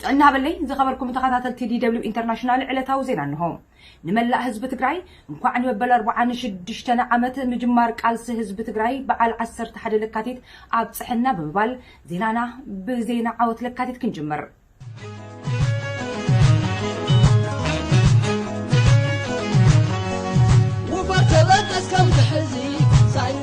ጥዕና በለይ ዝኸበርኩም ተኸታተልቲ ዲደብሊው ኢንተርናሽናል ዕለታዊ ዜና እንሆ። ንመላእ ህዝቢ ትግራይ እንኳዕ ንመበል ኣርብዓን ሽዱሽተን ዓመት ምጅማር ቃልሲ ህዝቢ ትግራይ በዓል ዓሰርተ ሓደ ለካቲት ኣብፅሐና ብምባል ዜናና ብዜና ዓወት ለካቲት ክንጅምር። ውፋር ተበገስ ከም ትሕዚ ሳይነ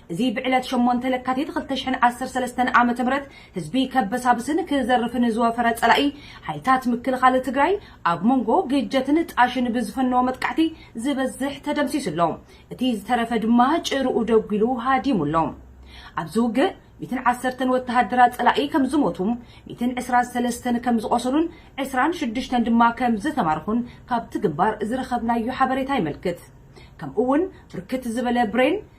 እዚ ብዕለት ሸሞንተ ለካቲት ክልተ ሽሕን ዓሰርተ ሰለስተን ዓመተ ምህረት ህዝቢ ከበሳብስን ክዘርፍን ዝወፈረ ፀላኢ ሓይልታት ምክልኻል ትግራይ ኣብ ሞንጎ ግጀትን ጣሽን ብዝፈነዎ መጥቃዕቲ ዝበዝሕ ተደምሲሱ ኣሎ። እቲ ዝተረፈ ድማ ጭርኡ ደጒሉ ሃዲሙ ኣሎ። ኣብዚ ውግእ ሚእትን ዓሰርተን ወተሃደራት ፀላኢ ከምዝሞቱ፣ ሚእትን ዕስራን ሰለስተን ከምዝቖሰሉን ዕስራን ሽዱሽተን ድማ ከምዝተማረኹን ካብቲ ግንባር ዝረኸብናዮ ሓበሬታ የመልክት። ከምኡ እውን ብርክት ዝበለ ብሬን፣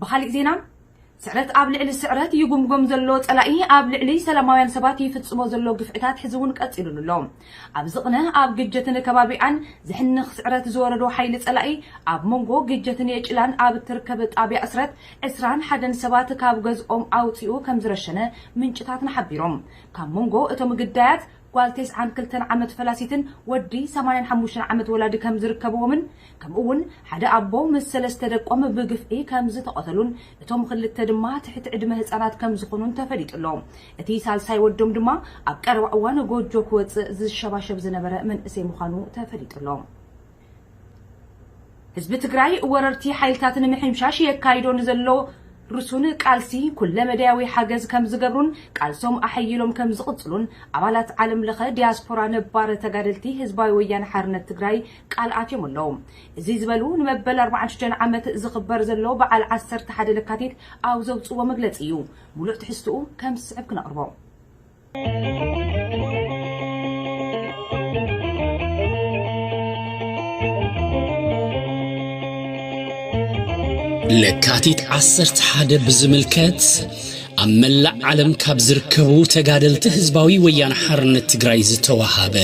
ብኻሊእ ዜና ስዕረት ኣብ ልዕሊ ስዕረት ይጉምጎም ዘሎ ጸላኢ ኣብ ልዕሊ ሰላማውያን ሰባት ይፍጽሞ ዘሎ ግፍዕታት ሕዚ እውን ቀጺሉሉ ኣሎ። ኣብዚ ቅነ ኣብ ግጀትን ከባቢኣን ዝሕንኽ ስዕረት ዝወረዶ ሓይሊ ጸላኢ ኣብ መንጎ ግጀትን የጭላን ኣብ እትርከብ ጣብያ እስረት ዕስራን ሓደን ሰባት ካብ ገዝኦም ኣውጺኡ ከም ዝረሸነ ምንጭታትና ሓቢሮም። ካብ መንጎ እቶም ግዳያት ጓል ቴስዓን ክልተን ዓመት ፈላሲትን ወዲ ሰማንያን ሓሙሽተን ዓመት ወላዲ ከም ዝርከብዎምን ከምኡ'ውን ሓደ ኣቦ ምስ ሰለስተ ደቆም ብግፍዒ ከም ዝተቐተሉን እቶም ኽልተ ድማ ትሕቲ ዕድመ ህጻናት ከም ዝዀኑን ተፈሊጡ ኣሎ። እቲ ሳልሳይ ወዶም ድማ ኣብ ቀረባ እዋን ጎጆ ክወጽእ ዝሸባሸብ ዝነበረ መንእሰይ ምዃኑ ተፈሊጡ ኣሎ። ህዝቢ ትግራይ ወረርቲ ሓይልታት ንምሕምሻሽ የካይዶ ንዘሎ ርሱን ቃልሲ ኩለመዳያዊ ሓገዝ ከምዝገብሩን ቃልሶም ኣሐይሎም ከምዝቕፅሉን ኣባላት ዓለም ለኸ ዲያስፖራ ነባር ተጋደልቲ ህዝባዊ ወያነ ሓርነት ትግራይ ቃል ኣትዮም ኣለዉ። እዚ ዝበሉ ንመበል ኣርብዓን ሽዱሽተን ዓመት ዝኽበር ዘሎ በዓል ዓሰርተ ሓደ ለካቲት ኣብ ዘውፅዎ መግለፂ እዩ። ሙሉእ ትሕዝትኡ ከምዝስዕብ ክነቕርቦ። ለካቲት ዓሰርተ ሓደ ብዝምልከት ኣብ መላእ ዓለም ካብ ዝርከቡ ተጋደልቲ ህዝባዊ ወያነ ሓርነት ትግራይ ዝተዋሃበ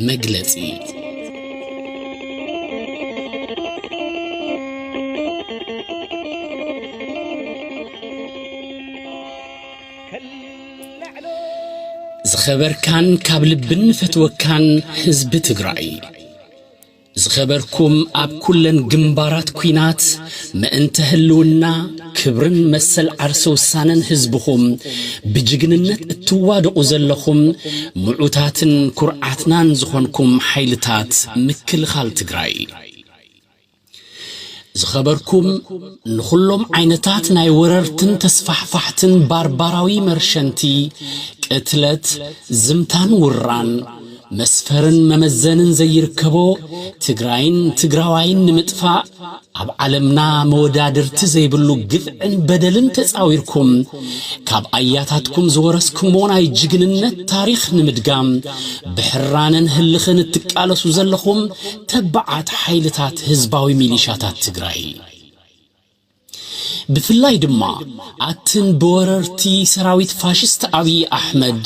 መግለጺ ዝኸበርካን ካብ ልቢ እንፈትወካን ህዝቢ ትግራይ ዝኸበርኩም ኣብ ኩለን ግንባራት ኲናት ምእንተ ህልውና ክብርን መሰል ዓርሰ ውሳነን ህዝብኹም ብጅግንነት እትዋደቑ ዘለኹም ምዑታትን ኩርዓትናን ዝኾንኩም ሓይልታት ምክልኻል ትግራይ ዝኸበርኩም ንኹሎም ዓይነታት ናይ ወረርትን ተስፋሕፋሕትን ባርባራዊ መርሸንቲ፣ ቅትለት፣ ዝምታን ውራን፣ መስፈርን መመዘንን ዘይርከቦ ትግራይን ትግራዋይን ንምጥፋእ ኣብ ዓለምና መወዳድርቲ ዘይብሉ ግፍዕን በደልን ተጻዊርኩም ካብ ኣያታትኩም ዝወረስክሞ ናይ ጅግንነት ታሪኽ ንምድጋም ብሕራነን ህልኽን እትቃለሱ ዘለኹም ተባዓት ሓይልታት ህዝባዊ ሚሊሻታት ትግራይ ብፍላይ ድማ ኣትን ብወረርቲ ሰራዊት ፋሽስት ኣብይ ኣሕመድ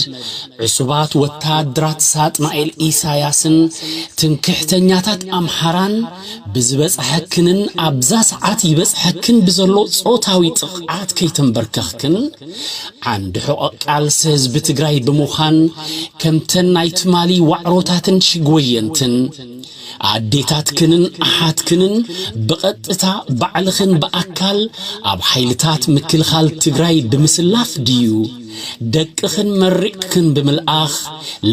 ዕሱባት ወታደራት ሳጥናኤል ኢሳያስን ትምክሕተኛታት ኣምሓራን ብዝበፅሐክንን ኣብዛ ሰዓት ይበፅሐክን ብዘሎ ፆታዊ ጥቕዓት ከይተንበርከኽክን ዓንዲ ሕቖ ቃልሲ ህዝቢ ትግራይ ብምዃን ከምተን ናይ ትማሊ ዋዕሮታትን ሽግወየንትን ኣዴታትክንን ኣሓትክንን ብቐጥታ ባዕልኽን ብኣካል ኣብ ሓይልታት ምክልኻል ትግራይ ብምስላፍ ድዩ ደቅኽን መሪቕክን ብምልኣኽ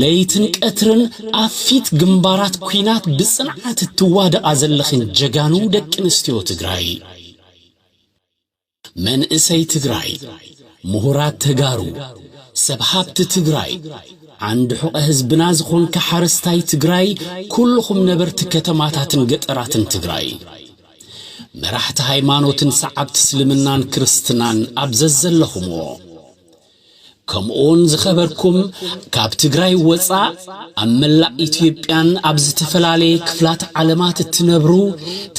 ለይትን ቀትርን ኣብ ፊት ግንባራት ኲናት ብፅንዓት እትዋደቓ ዘለኽን ጀጋኑ ደቂ ኣንስትዮ ትግራይ መንእሰይ ትግራይ፣ ምሁራት ተጋሩ፣ ሰብ ሃብቲ ትግራይ፣ ዓንዲ ሑቐ ህዝብና ዝኾንካ ሓረስታይ ትግራይ፣ ኩሉኹም ነበርቲ ከተማታትን ገጠራትን ትግራይ፣ መራሕቲ ሃይማኖትን ሰዓብቲ እስልምናን ክርስትናን ኣብ ዘዘለኹምዎ፣ ከምኡውን ዝኸበርኩም ካብ ትግራይ ወፃእ ኣብ መላእ ኢትዮጵያን ኣብ ዝተፈላለየ ክፍላት ዓለማት እትነብሩ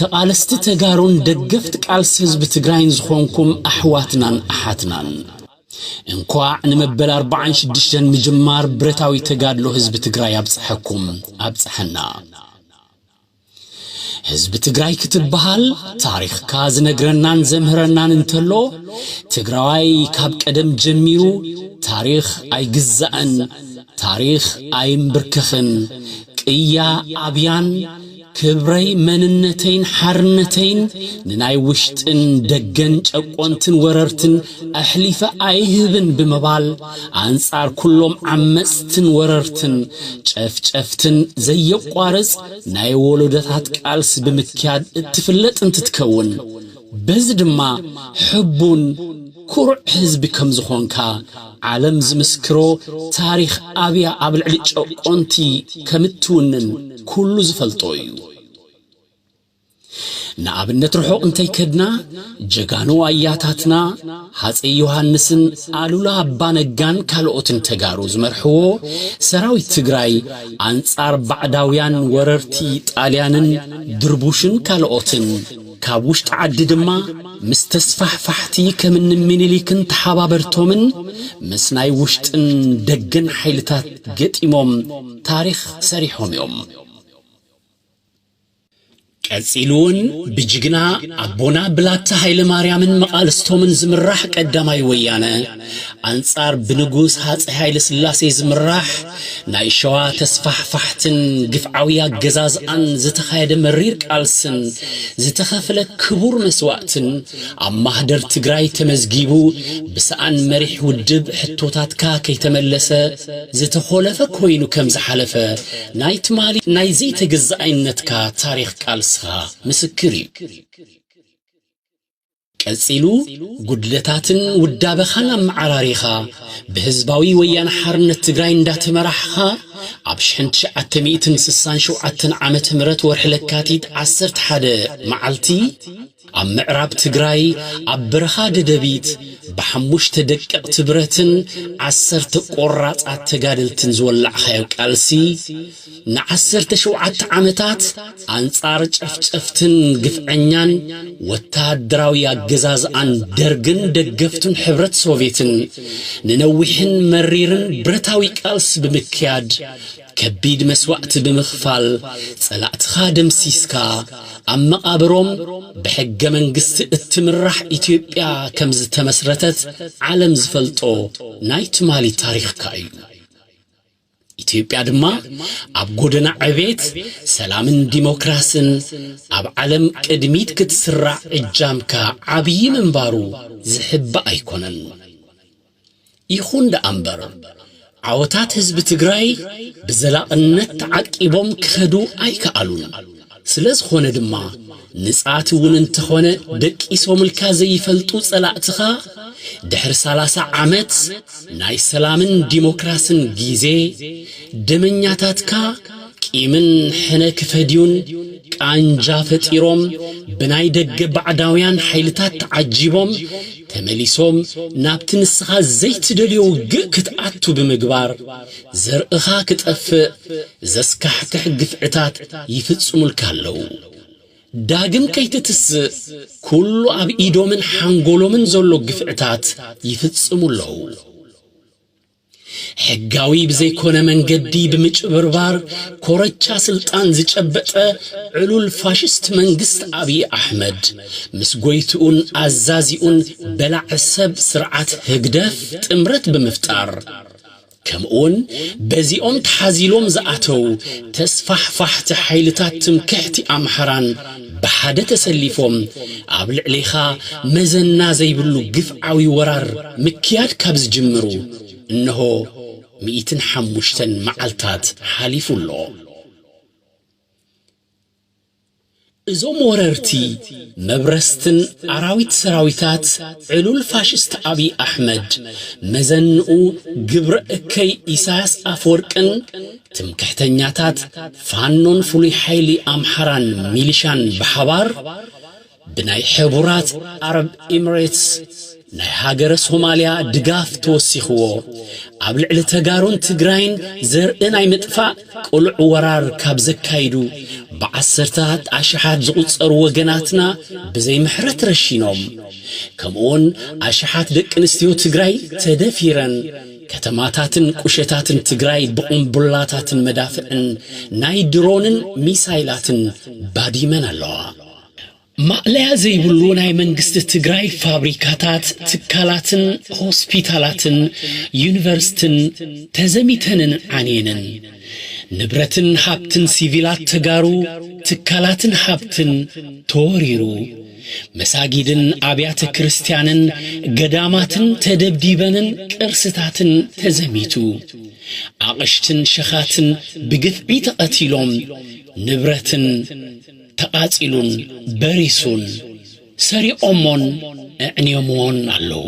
ተቓለስቲ ተጋሩን ደገፍቲ ቃልሲ ህዝቢ ትግራይን ዝኾንኩም ኣሕዋትናን ኣሓትናን እንኳዕ ንመበል ኣርባዓን ሽዱሽተን ምጅማር ብረታዊ ተጋድሎ ህዝቢ ትግራይ ኣብፀሐኩም ኣብፀሐና። ህዝቢ ትግራይ ክትብሃል ታሪኽካ ዝነግረናን ዘምህረናን እንተሎ ትግራዋይ ካብ ቀደም ጀሚሩ ታሪኽ ኣይግዛእን ታሪኽ ኣይምብርከኽን ቅያ ኣብያን ክብረይ መንነተይን ሓርነተይን ንናይ ውሽጥን ደገን ጨቆንትን ወረርትን ኣሕሊፈ ኣይህብን ብምባል ኣንጻር ኩሎም ዓመጽትን ወረርትን ጨፍጨፍትን ዘየቋርጽ ናይ ወሎዶታት ቃልሲ ብምክያድ እትፍለጥ እንትትከውን በዚ ድማ ሕቡን ኩሩዕ ህዝቢ ከምዝኾንካ ዓለም ዝምስክሮ ታሪኽ ኣብያ ኣብ ልዕሊ ጨቆንቲ ከምትውንን ኩሉ ዝፈልጦ እዩ። ንኣብነት ርሑቕ እንተይከድና ጀጋኑ ኣያታትና ሃፀይ ዮሃንስን ኣሉላ ኣባነጋን ካልኦትን ተጋሩ ዝመርሕዎ ሰራዊት ትግራይ ኣንፃር ባዕዳውያን ወረርቲ ጣልያንን ድርቡሽን ካልኦትን ካብ ውሽጢ ዓዲ ድማ ምስ ተስፋሕፋሕቲ ከምኒ ሚኒሊክን ተሓባበርቶምን ምስ ናይ ውሽጥን ደገን ሓይልታት ገጢሞም ታሪኽ ሰሪሖም እዮም። ቀጺሉ ውን ብጅግና ኣቦና ብላታ ሃይለማርያምን መቓልስቶምን ዝምራሕ ቀዳማይ ወያነ ኣንጻር ብንጉስ ሃጸይ ሃይለስላሴ ዝምራሕ ናይ ሸዋ ተስፋሕፋሕትን ግፍዓዊ ኣገዛዝኣን ዝተኻየደ መሪር ቃልስን ዝተኸፍለ ክቡር መስዋእትን ኣብ ማህደር ትግራይ ተመዝጊቡ ብሰኣን መሪሕ ውድብ ሕቶታትካ ከይተመለሰ ዝተኾለፈ ኮይኑ ከም ዝሓለፈ ናይ ትማሊ ናይ ዘይተገዛኣይነትካ ታሪኽ ቃልስኻ ምስክር እዩ። ቀጺሉ ጉድለታትን ውዳበኻን ኣመዓራሪኻ ብህዝባዊ ወያነ ሓርነት ትግራይ እንዳተመራሕኻ ኣብ ሽሕን ትሽዓተ ሚእትን ስሳን ሸውዓተን ዓመተ ምህረት ወርሒ ለካቲት ዓሰርተ ሓደ መዓልቲ ኣብ ምዕራብ ትግራይ ኣብ በረኻ ደደቢት ብሓሙሽተ ደቀቕቲ ብረትን ዓሰርተ ቆራፃት ተጋደልትን ዝወላዕኻዮ ቃልሲ ንዓሰርተ ሸውዓተ ዓመታት ኣንፃር ጨፍጨፍትን ግፍዐኛን ወታደራዊ ኣገዛዝኣን ደርግን ደገፍቱን ሕብረት ሶቬትን ንነዊሕን መሪርን ብረታዊ ቃልሲ ብምክያድ ከቢድ መስዋእቲ ብምኽፋል ጸላእትኻ ደምሲስካ፣ ኣብ መቓብሮም ብሕገ መንግስቲ እትምራሕ ኢትዮጵያ ከምዝተመስረተት ዓለም ዝፈልጦ ናይ ትማሊ ታሪኽካ እዩ። ኢትዮጵያ ድማ ኣብ ጎደና ዕቤት፣ ሰላምን ዲሞክራስን ኣብ ዓለም ቅድሚት ክትስራዕ እጃምካ ዓብዪ ምንባሩ ዝሕባእ ኣይኮነን። ይኹን ደኣምበር ዓወታት ህዝቢ ትግራይ ብዘላቕነት ተዓቂቦም ክኸዱ ኣይከኣሉን። ስለዝኾነ ድማ ንጻት እውን እንተኾነ ደቂሶምልካ ዘይፈልጡ ጸላእትኻ ድሕሪ ሰላሳ ዓመት ናይ ሰላምን ዲሞክራስን ጊዜ ደመኛታትካ ቂምን ሕነ ክፈድዩን ቃንጃ ፈጢሮም ብናይ ደገ ባዕዳውያን ሓይልታት ተዓጂቦም ተመሊሶም ናብቲ ንስኻ ዘይትደልዮ ውግእ ክትኣቱ ብምግባር ዘርእኻ ክጠፍእ ዘስካሕክሕ ግፍዕታት ይፍጽሙልካ ኣለዉ። ዳግም ከይትትስእ ኩሉ ኣብ ኢዶምን ሓንጎሎምን ዘሎ ግፍዕታት ይፍጽሙ ኣለዉ። ሕጋዊ ብዘይኮነ መንገዲ ብምጭብርባር ኮረቻ ስልጣን ዝጨበጠ ዕሉል ፋሽስት መንግስት ኣብይ ኣሕመድ ምስ ጎይትኡን ኣዛዚኡን በላዕ ሰብ ስርዓት ህግደፍ ጥምረት ብምፍጣር ከምኡውን በዚኦም ተሓዚሎም ዝኣተው ተስፋሕፋሕቲ ሓይልታት ትምክሕቲ ኣምሓራን ብሓደ ተሰሊፎም ኣብ ልዕሌኻ መዘና ዘይብሉ ግፍዓዊ ወራር ምክያድ ካብ ዝጅምሩ እነሆ ሚኢትን ሓሙሽተን መዓልታት ሓሊፉ ኣሎ። እዞም ወረርቲ መብረስትን ኣራዊት ሰራዊታት ዕሉል ፋሽስት ኣብይ ኣሕመድ፣ መዘንኡ ግብረ እከይ ኢሳያስ ኣፈወርቅን፣ ትምክሕተኛታት ፋኖን ፍሉይ ሓይሊ ኣምሓራን ሚሊሻን ብሓባር ብናይ ሕቡራት ዓረብ ኢምሬትስ ናይ ሃገረ ሶማልያ ድጋፍ ተወሲኽዎ ኣብ ልዕሊ ተጋሩን ትግራይን ዘርኢ ናይ ምጥፋእ ቅሉዕ ወራር ካብ ዘካይዱ ብዓሰርታት ኣሽሓት ዝቝጸሩ ወገናትና ብዘይ ምሕረት ረሺኖም ከምኡውን ኣሽሓት ደቂ ኣንስትዮ ትግራይ ተደፊረን ከተማታትን ቁሸታትን ትግራይ ብቑምቡላታትን መዳፍዕን ናይ ድሮንን ሚሳይላትን ባዲመን ኣለዋ። ማእለያ ዘይብሉ ናይ መንግስቲ ትግራይ ፋብሪካታት፣ ትካላትን ሆስፒታላትን ዩኒቨርስትን ተዘሚተንን ዓንየንን። ንብረትን ሃብትን ሲቪላት ተጋሩ፣ ትካላትን ሃብትን ተወሪሩ። መሳጊድን ኣብያተ ክርስትያንን ገዳማትን ተደብዲበንን ቅርስታትን ተዘሚቱ። ኣቕሽትን ሸኻትን ብግፍዒ ተቐቲሎም፣ ንብረትን ተቓጺሉን በሪሱን፣ ሰሪቖሞን ኣዕንዮምዎን ኣለዉ።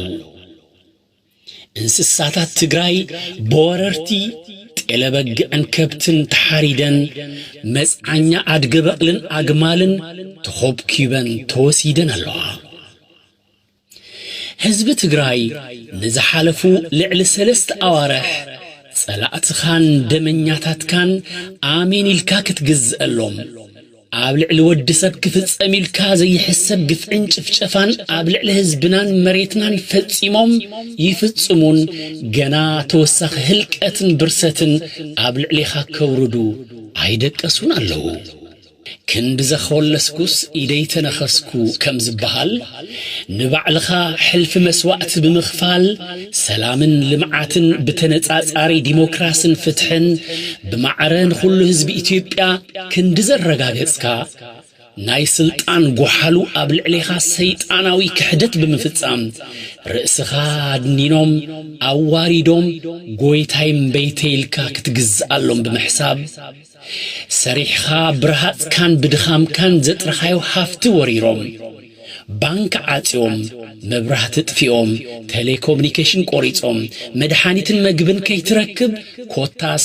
እንስሳታት ትግራይ ብወረርቲ ጤለ በግዕን ከብትን ተሓሪደን፣ መፅዓኛ ኣድገ በቕልን ኣግማልን ተኾብኲበን ተወሲደን ኣለዋ። ህዝቢ ትግራይ ንዝሓለፉ ልዕሊ ሰለስተ ኣዋርሕ ፀላእትኻን ደመኛታትካን ኣሜን ኢልካ ክትግዘኣሎም፣ ኣብ ልዕሊ ወዲ ሰብ ክፍጸም ኢልካ ዘይሕሰብ ግፍዕን ጭፍጨፋን ኣብ ልዕሊ ህዝብናን መሬትናን ፈጺሞም ይፍጽሙን ገና ተወሳኺ ህልቀትን ብርሰትን ኣብ ልዕሌኻ ከውርዱ ኣይደቀሱን ኣለዉ። ክንዲ ዘኸወለስኩስ ኢደይ ተነኸስኩ ከም ዝበሃል፣ ንባዕልኻ ሕልፊ መስዋእቲ ብምኽፋል ሰላምን ልምዓትን ብተነፃፃሪ ዲሞክራስን ፍትሕን ብማዕረ ንኹሉ ህዝቢ ኢትዮጵያ ክንዲ ዘረጋገፅካ ናይ ስልጣን ጎሓሉ ኣብ ልዕሌኻ ሰይጣናዊ ክሕደት ብምፍፃም ርእስኻ ኣድኒኖም ኣዋሪዶም ጎይታይ እምበይተይ ኢልካ ክትግዝኣሎም ብምሕሳብ ሰሪሕኻ ብረሃጽካን ብድኻምካን ዘጥረኻዮ ሃፍቲ ወሪሮም፣ ባንክ ዓጽዮም፣ መብራህቲ ጥፊኦም፣ ተሌኮምኒኬሽን ቆሪጾም፣ መድሓኒትን መግብን ከይትረክብ ኮታስ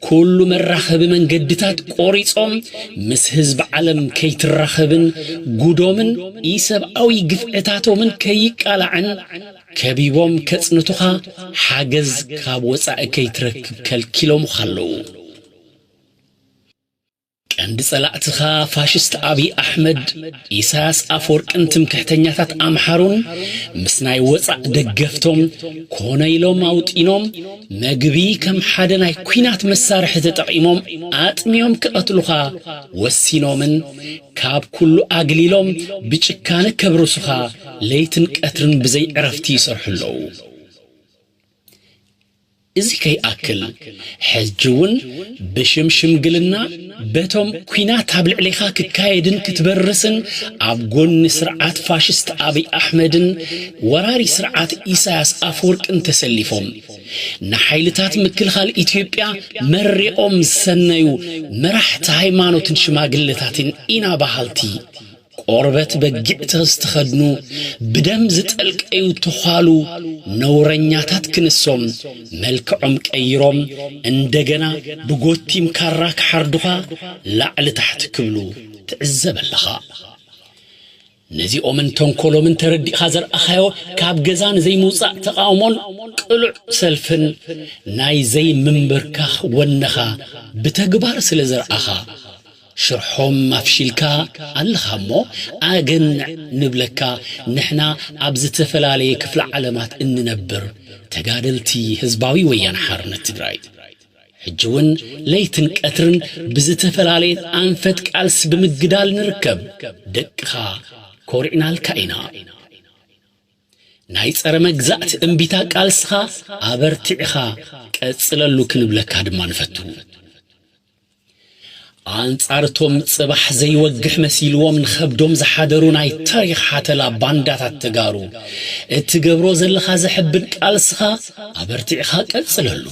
ኩሉ መራኸቢ መንገድታት ቆሪጾም ምስ ህዝቢ ዓለም ከይትራኸብን ጉዶምን ኢሰብኣዊ ግፍዕታቶምን ከይቃላዕን ከቢቦም ከጽንቱኻ ሓገዝ ካብ ወጻኢ ከይትረክብ ከልኪሎምኻ ኣለዉ። ቀንዲ ጸላእትኻ ፋሽስት ኣብይ ኣሕመድ፣ ኢሳያስ ኣፍወርቅን ትምክሕተኛታት ኣምሓሩን ምስ ናይ ወጻእ ደገፍቶም ኮነ ኢሎም ኣውጢኖም መግቢ ከም ሓደ ናይ ኩናት መሳርሒ ተጠቒሞም ኣጥሚዮም ክቐትሉኻ ወሲኖምን ካብ ኩሉ ኣግሊሎም ብጭካነ ከብርሱኻ ለይትን ቀትርን ብዘይ ዕረፍቲ ይሰርሑ ኣለዉ። እዚ ከይኣክል ሕጂ እውን ብሽም ሽምግልና በቶም ኲናት ኣብ ልዕሌኻ ክካየድን ክትበርስን ኣብ ጎኒ ስርዓት ፋሽስት ኣብይ ኣሕመድን ወራሪ ስርዓት ኢሳያስ ኣፈወርቅን ተሰሊፎም ንሓይልታት ምክልኻል ኢትዮጵያ መሪቖም ዝሰነዩ መራሕቲ ሃይማኖትን ሽማግለታትን ኢና በሃልቲ ቆርበት በጊዕ ተዝተኸድኑ ብደም ዝጠልቀዩ ተዃሉ ነውረኛታት ክንሶም መልክዖም ቀይሮም እንደገና ብጎቲም ካራ ክሓርዱኻ ላዕሊ ታሕቲ ክብሉ ትዕዘብ ኣለኻ። ነዚኦምን ተንኮሎምን ተረዲእኻ ዘርኣኻዮ ካብ ገዛ ንዘይምውጻእ ተቓውሞን ቅሉዕ ሰልፍን ናይ ዘይምምብርካኽ ወነኻ ብተግባር ስለዘርኣኻ፣ ሽርሖም ኣፍሺልካ ኣለኻ እሞ ኣገንዕ ንብለካ ንሕና ኣብ ዝተፈላለየ ክፍለ ዓለማት እንነብር ተጋደልቲ ህዝባዊ ወያነ ሓርነት ትግራይ ሕጂ እውን ለይትን ቀትርን ብዝተፈላለየት ኣንፈት ቃልሲ ብምግዳል ንርከብ ደቅኻ ኮሪዕናልካ ኢና ናይ ፀረ መግዛእቲ እምቢታ ቃልስኻ ኣበርቲዕኻ ቀፅለሉ ክንብለካ ድማ ንፈቱ። ኣንጻር እቶም ጽባሕ ዘይወግሕ መሲልዎም ንኸብዶም ዝሓደሩ ናይ ታሪኽ ሓተላ ባንዳታት ተጋሩ እትገብሮ ዘለኻ ዘሕብን ቃልስኻ ኣበርቲዕኻ ቀጽለሉ።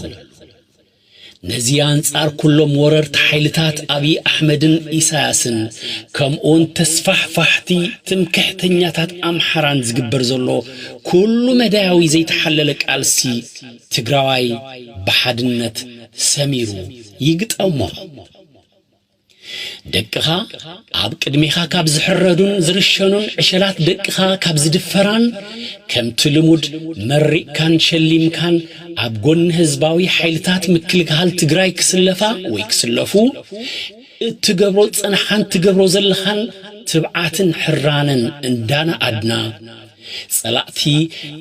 ነዚ ኣንጻር ኩሎም ወረርቲ ሓይልታት ኣብይ ኣሕመድን ኢሳያስን ከምኡውን ተስፋሕፋሕቲ ትምክሕተኛታት ኣምሓራን ዝግበር ዘሎ ኩሉ መዳያዊ ዘይተሓለለ ቃልሲ ትግራዋይ ብሓድነት ሰሚሩ ይግጠሞ። ደቅኻ ኣብ ቅድሜኻ ካብ ዝሕረዱን ዝርሸኑን ዕሸላት ደቅኻ ካብ ዝድፈራን ከምቲ ልሙድ መሪቕካን ሸሊምካን ኣብ ጎኒ ህዝባዊ ሓይልታት ምክልግሃል ትግራይ ክስለፋ ወይ ክስለፉ እትገብሮ ዝጸንሓን ትገብሮ ዘለኻን ትብዓትን ሕራነን እንዳነኣድና፣ ጸላእቲ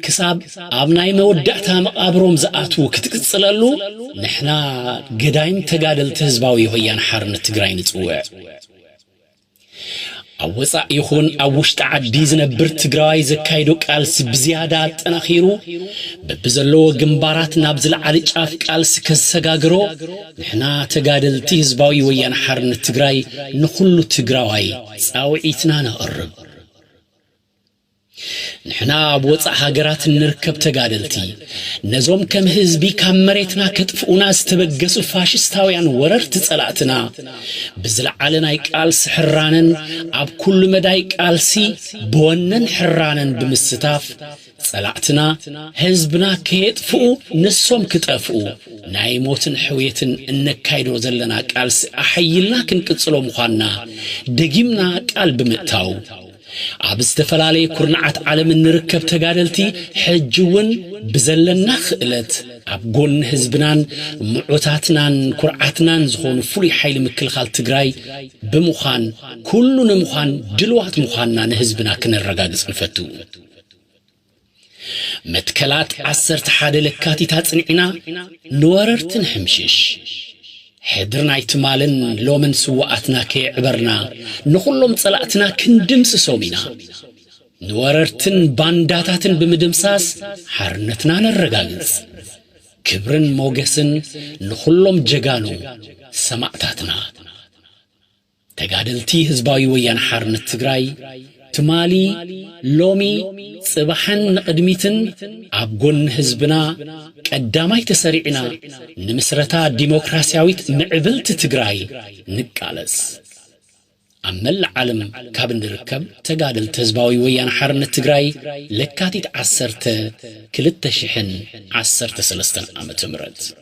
ክሳብ ኣብ ናይ መወዳእታ መቓብሮም ዝኣትዉ ክትቅጽለሉ ንሕና ገዳይም ተጋደልቲ ህዝባዊ ወያነ ሓርነት ትግራይ ንጽውዕ። ኣብ ወጻእ ይኹን ኣብ ውሽጢ ዓዲ ዝነብር ትግራዋይ ዘካይዶ ቃልሲ ብዝያዳ ኣጠናኺሩ በብዘለዎ ግንባራት ናብ ዝለዓሊ ጫፍ ቃልሲ ከሰጋግሮ ንሕና ተጋደልቲ ህዝባዊ ወያነ ሓርነት ትግራይ ንኹሉ ትግራዋይ ፃውዒትና ነቕርብ። ንሕና ኣብ ወፃእ ሃገራት እንርከብ ተጋደልቲ ነዞም ከም ህዝቢ ካብ መሬትና ከጥፍኡና ዝተበገሱ ፋሽስታውያን ወረርቲ ፀላእትና ብዝለዓለ ናይ ቃልሲ ሕራነን ኣብ ኩሉ መዳይ ቃልሲ ብወነን ሕራነን ብምስታፍ ጸላእትና ህዝብና ከየጥፍኡ ንሶም ክጠፍኡ ናይ ሞትን ሕውየትን እነካይዶ ዘለና ቃልሲ ኣሐይልና ክንቅጽሎ ምዃንና ደጊምና ቃል ብምእታው፣ ኣብ ዝተፈላለየ ኩርናዓት ዓለም እንርከብ ተጋደልቲ ሕጂ'ውን ብዘለና ክእለት ኣብ ጎኒ ህዝብናን ምዑታትናን ኩርዓትናን ዝኾኑ ፍሉይ ሓይሊ ምክልኻል ትግራይ ብምዃን ኩሉ ንምዃን ድልዋት ምዃንና ንህዝብና ክነረጋግጽ ንፈቱ። መትከላት ዓሰርተ ሓደ ለካቲት ኣጽኒዕና ንወረርቲ ንሕምሽሽ ሕድሪ ናይ ትማልን ሎምን ስዋኣትና ከየዕበርና ንኹሎም ጸላእትና ክንድምስሶም ኢና ንወረርትን ባንዳታትን ብምድምሳስ ሓርነትና ነረጋግጽ። ክብርን ሞገስን ንኹሎም ጀጋኑ ሰማእታትና። ተጋደልቲ ህዝባዊ ወያነ ሓርነት ትግራይ ትማሊ፣ ሎሚ፣ ፅባሕን ንቕድሚትን ኣብ ጎኒ ህዝብና ቀዳማይ ተሰሪዕና ንምስረታ ዲሞክራሲያዊት ምዕብልቲ ትግራይ ንቃለስ ኣብ መላእ ዓለም ካብ እንርከብ ተጋደልቲ ህዝባዊ ወያነ ሓርነት ትግራይ ለካቲት ዓሰርተ ክልተ ሽሕን ዓሰርተ ሰለስተን ዓመተ ምህረት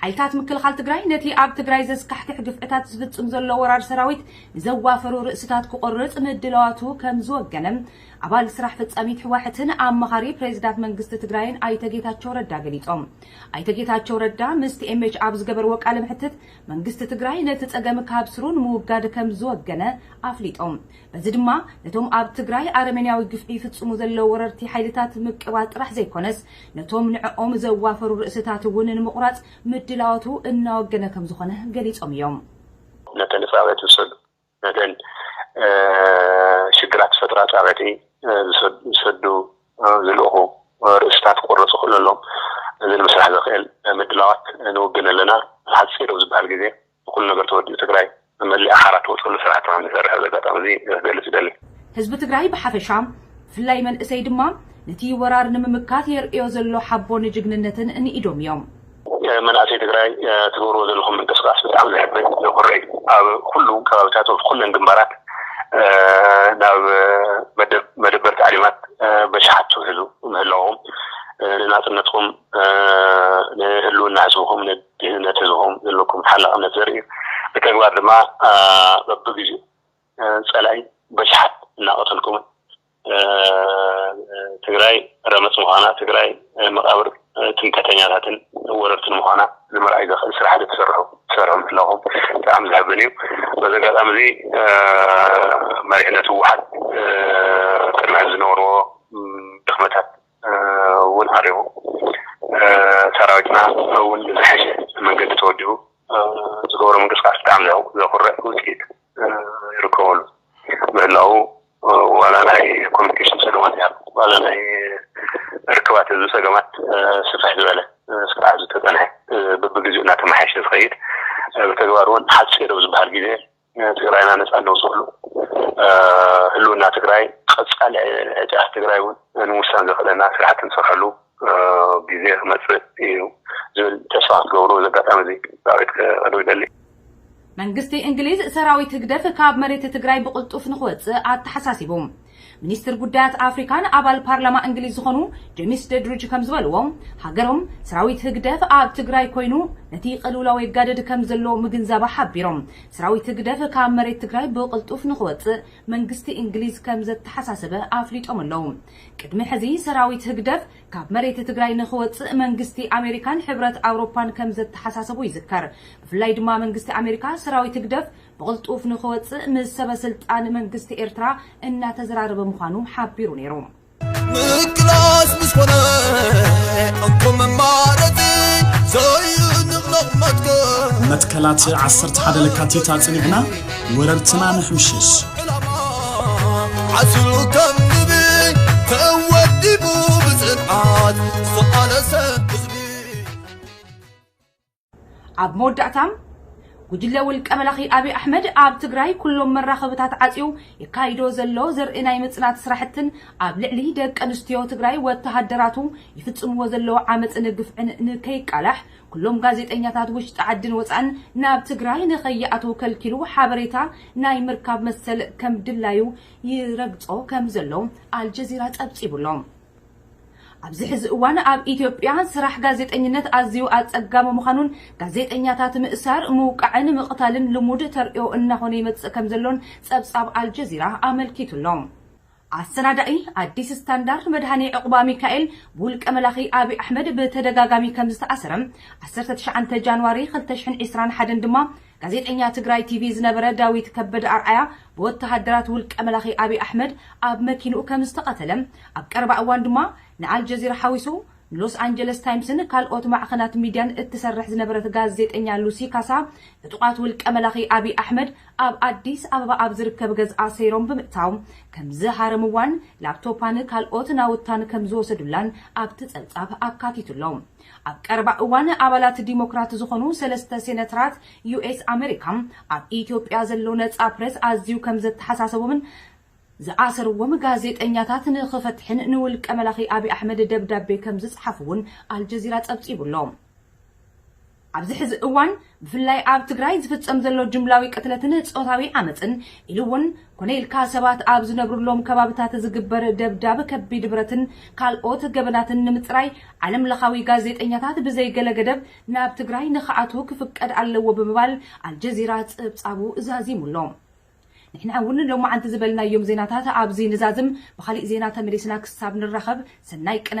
ሓይልታት ምክልኻል ትግራይ ነቲ ኣብ ትግራይ ዘስካሕክሕ ግፍዕታት ዝፍፅም ዘሎ ወራር ሰራዊት ንዘዋፈሩ ርእስታት ክቖርፅ ምድላዋቱ ከምዝወገነ ኣባል ስራሕ ፈፃሚት ህዋሕትን ኣማኻሪ ፕሬዚዳት መንግስቲ ትግራይን ኣይተ ጌታቸው ረዳ ገሊፆም። ኣይተ ጌታቸው ረዳ ምስ ቲኤምኤች ኣብ ዝገበርዎ ቃለ መሕትት መንግስቲ ትግራይ ነቲ ፀገም ካብ ስሩ ንምውጋድ ከምዝወገነ ኣፍሊጦም። እዚ ድማ ነቶም ኣብ ትግራይ ኣረሜንያዊ ግፍዒ ይፍጽሙ ዘለዉ ወረርቲ ሓይልታት ምቅባል ጥራሕ ዘይኮነስ ነቶም ንዕኦም ዘዋፈሩ ርእስታት እውን ንምቑራጽ ምድላዋቱ እናወገነ ከምዝኾነ ገሊጾም እዮም። ነተን ንጻብያ ዝሰዱ ነተን ሽግራት ዝፈጥራ ጻብያቲ ዝሰዱ ዝልእኹ ርእስታት ክቑረጹ ክእለሎም እዚ ንምስራሕ ዘኽእል ምድላዋት ንውግን ኣለና። ሓጺር ኣብ ዝበሃል ግዜ። ብኩሉ ነገር ተወዲኡ ትግራይ መመሊኣ ሓራ ትወፀሉ ስራሕቲ ከምዝሰርሕ በዚ ኣጋጣሚ እዚ ክገልፅ ይደሊ። ህዝቢ ትግራይ ብሓፈሻ ብፍላይ መንእሰይ ድማ ነቲ ወራር ንምምካት የርእዮ ዘሎ ሓቦን ጅግንነትን ንኢዶም እዮም። መናእሰይ ትግራይ ትገብርዎ ዘለኹም ምንቅስቃስ ብጣዕሚ ዘሕብን ዘኹርዕ እዩ። ኣብ ኩሉ ከባቢታት ወብ ኩለን ግንባራት ናብ መደብ መደበር ታዕሊማት በሽሓት ትውሕዙ ምህላውኹም ንናፅነትኹም ንህልውና ህዝብኹም ጅግንነት ህዝብኹም ዘለኩም ተሓላቕነት ዘርኢ እዩ። ብተግባር ድማ በብግዚኡ ፀላኢ በሽሓት እናቐተልኩምን ትግራይ ረመፅ ምዃና፣ ትግራይ መቓብር ትምከተኛታትን ወረርትን ምዃና ንምርኣይ ዘኽእል ስራሕቲ ትሰርሑ ትሰርሑ ምህላኹም ብጣዕሚ ዘሕብን እዩ። በዚ ኣጋጣሚ እዚ መሪሕነት ህወሓት ቅድሚ ሕዚ ዝነበርዎ ድኽመታት እውን ዓሪቡ ሰራዊትና እውን ብዝሐሸ መንገዲ ተወዲቡ ዝገብሮ ምንቅስቃስ ብጣዕሚ ዘኹርዕ ውፅኢት ይርከበሉ ምህላው ዋላ ናይ ኮሚኒኬሽን ፀገማት ያ ዋላ ናይ ርክባት ህዝቢ ፀገማት ስፍሕ ዝበለ ስፍሕ ዝተፀንሐ በብግዚኡ እናተመሓየሸ ዝኸይድ ብተግባር እውን ሓፂር ኣብ ዝበሃል ግዜ ንትግራይና ነፃ እነውፀሉ ህልውና ትግራይ ቀፃሊ ዕጫ ትግራይ እውን ንምውሳን ዘኽእለና ስራሕቲ ንሰርሐሉ ግዜ ክመፅእ እዩ ዝብል ተስፋ ክትገብሩ እዚ ኣጋጣሚ እዚ ፃውዒት ከቅርብ ይደሊ። መንግስቲ እንግሊዝ ሰራዊት ህግደፍ ካብ መሬት ትግራይ ብቕልጡፍ ንኽወፅእ ኣተሓሳሲቡ። ሚኒስትር ጉዳያት ኣፍሪካን ኣባል ፓርላማ እንግሊዝ ዝኾኑ ጀሚስ ደድርጅ ከምዝበልዎ፣ ሃገሮም ሰራዊት ህግደፍ ኣብ ትግራይ ኮይኑ ነቲ ቅልውላው የጋድድ ከምዘሎ ምግንዛባ ሓቢሮም፣ ሰራዊት ህግደፍ ካብ መሬት ትግራይ ብቕልጡፍ ንኽወፅእ መንግስቲ እንግሊዝ ከምዘተሓሳሰበ ኣፍሊጦም ኣለው። ቅድሚ ሕዚ ሰራዊት ህግደፍ ካብ መሬት ትግራይ ንኽወፅእ መንግስቲ ኣሜሪካን ሕብረት ኣውሮፓን ከምዘተሓሳሰቡ ይዝከር። ብፍላይ ድማ መንግስቲ ኣሜሪካ ሰራዊት ህግደፍ ብቕልጡፍ ንኽወጽእ ምስ ሰበስልጣን መንግስቲ ኤርትራ እናተዘራረበ ምዃኑ ሓቢሩ ነይሩ። ምቅላስ ምስ ኮነ እንኮ መማረጺ ዘይንቕነቕ መትከል መትከላት ዓሰርተ ሓደ ለካቲት ኣጽኒዕና ወረርትና ንሕምሽሽ። ዕላማ ዓስሉ ከም ንቢ ተወዲቡ ብጽንዓት ዝተቓለሰ ኣብ መወዳእታ፣ ጉጅለ ውልቀ መላኺ ኣብይ ኣሕመድ ኣብ ትግራይ ኩሎም መራኸብታት ዓጽዩ የካይዶ ዘሎ ዘርኢ ናይ ምጽናት ስራሕትን ኣብ ልዕሊ ደቂ ኣንስትዮ ትግራይ ወተሃደራቱ ይፍጽምዎ ዘለዉ ዓመጽን ግፍዕን ንከይቃላሕ ኩሎም ጋዜጠኛታት ውሽጢ ዓድን ወጻእን ናብ ትግራይ ንከይኣትዉ ከልኪሉ ሓበሬታ ናይ ምርካብ መሰል ከም ድላዩ ይረግጾ ከም ዘሎ ኣልጀዚራ ጸብጺቡ ኣሎ። ኣብዚ ሕዚ እዋን ኣብ ኢትዮጵያ ስራሕ ጋዜጠኝነት ኣዝዩ ኣፀጋሚ ምዃኑን ጋዜጠኛታት ምእሳር፣ ምውቃዕን ምቕታልን ልሙድ ተርእዮ እናኾነ ይመፅእ ከምዘሎን ፀብፃብ ኣልጀዚራ ኣመልኪቱ ኣሎ። ኣሰናዳኢ ኣዲስ ስታንዳርድ መድሃኔ ዑቕባሚካኤል ብውልቀ መላኺ ኣብይ ኣሕመድ ብተደጋጋሚ ከምዝተኣሰረ፣ ዓሰርተ ትሽዓተ ጃንዋሪ ክልተ ሽሕን ዒስራን ሓደን ድማ ጋዜጠኛ ትግራይ ቲቪ ዝነበረ ዳዊት ከበደ ኣርኣያ ብወተሃደራት ውልቀ መላኺ ኣብይ ኣሕመድ ኣብ መኪንኡ ከም ዝተቐተለ፣ ኣብ ቀረባ እዋን ድማ ንኣልጀዚራ ሓዊሱ ንሎስ ኣንጀለስ ታይምስን ካልኦት ማዕኸናት ሚድያን እትሰርሕ ዝነበረት ጋዜጠኛ ሉሲ ካሳ ዕጡቓት ውልቀ መላኺ ኣብይ ኣሕመድ ኣብ ኣዲስ ኣበባ ኣብ ዝርከብ ገዝኣ ሰይሮም ብምእታው ከም ዝሃረምዋን ላፕቶፓን ካልኦት ናውታን ከም ዝወሰዱላን ኣብቲ ፀብፃብ ኣካቲቱ ኣሎ። ኣብ ቀረባ እዋን ኣባላት ዲሞክራት ዝኾኑ ሰለስተ ሴነትራት ዩኤስ ኣመሪካ ኣብ ኢትዮጵያ ዘሎ ነጻ ፕረስ ኣዝዩ ከም ዘተሓሳሰቦምን ዝኣሰርዎም ጋዜጠኛታት ንኽፈትሕን ንውልቀ መላኺ ኣብይ ኣሕመድ ደብዳቤ ከም ዝጸሓፉ'ውን ኣልጀዚራ ጸብጺቡ'ሎ። ኣብዚ ሕዚ እዋን ብፍላይ ኣብ ትግራይ ዝፍጸም ዘሎ ጅምላዊ ቅትለትን ጾታዊ ዓመጽን ኢሉ እውን ኮነ ኢልካ ሰባት ኣብ ዝነብሩሎም ከባብታት ዝግበር ደብዳብ፣ ከቢድ ብረትን ካልኦት ገበናትን ንምጽራይ ዓለም ለኻዊ ጋዜጠኛታት ብዘይ ገለ ገደብ ናብ ትግራይ ንክኣትዉ ክፍቀድ ኣለዎ ብምባል ኣልጀዚራ ጽብጻቡ ዛዚሙ ኣሎ። ንሕና እውን ሎማዓንቲ ዝበልናዮም ዜናታት ኣብዚ ንዛዝም፣ ብኻሊእ ዜና ተመሊስና ክሳብ ንራኸብ ሰናይ ቅነ።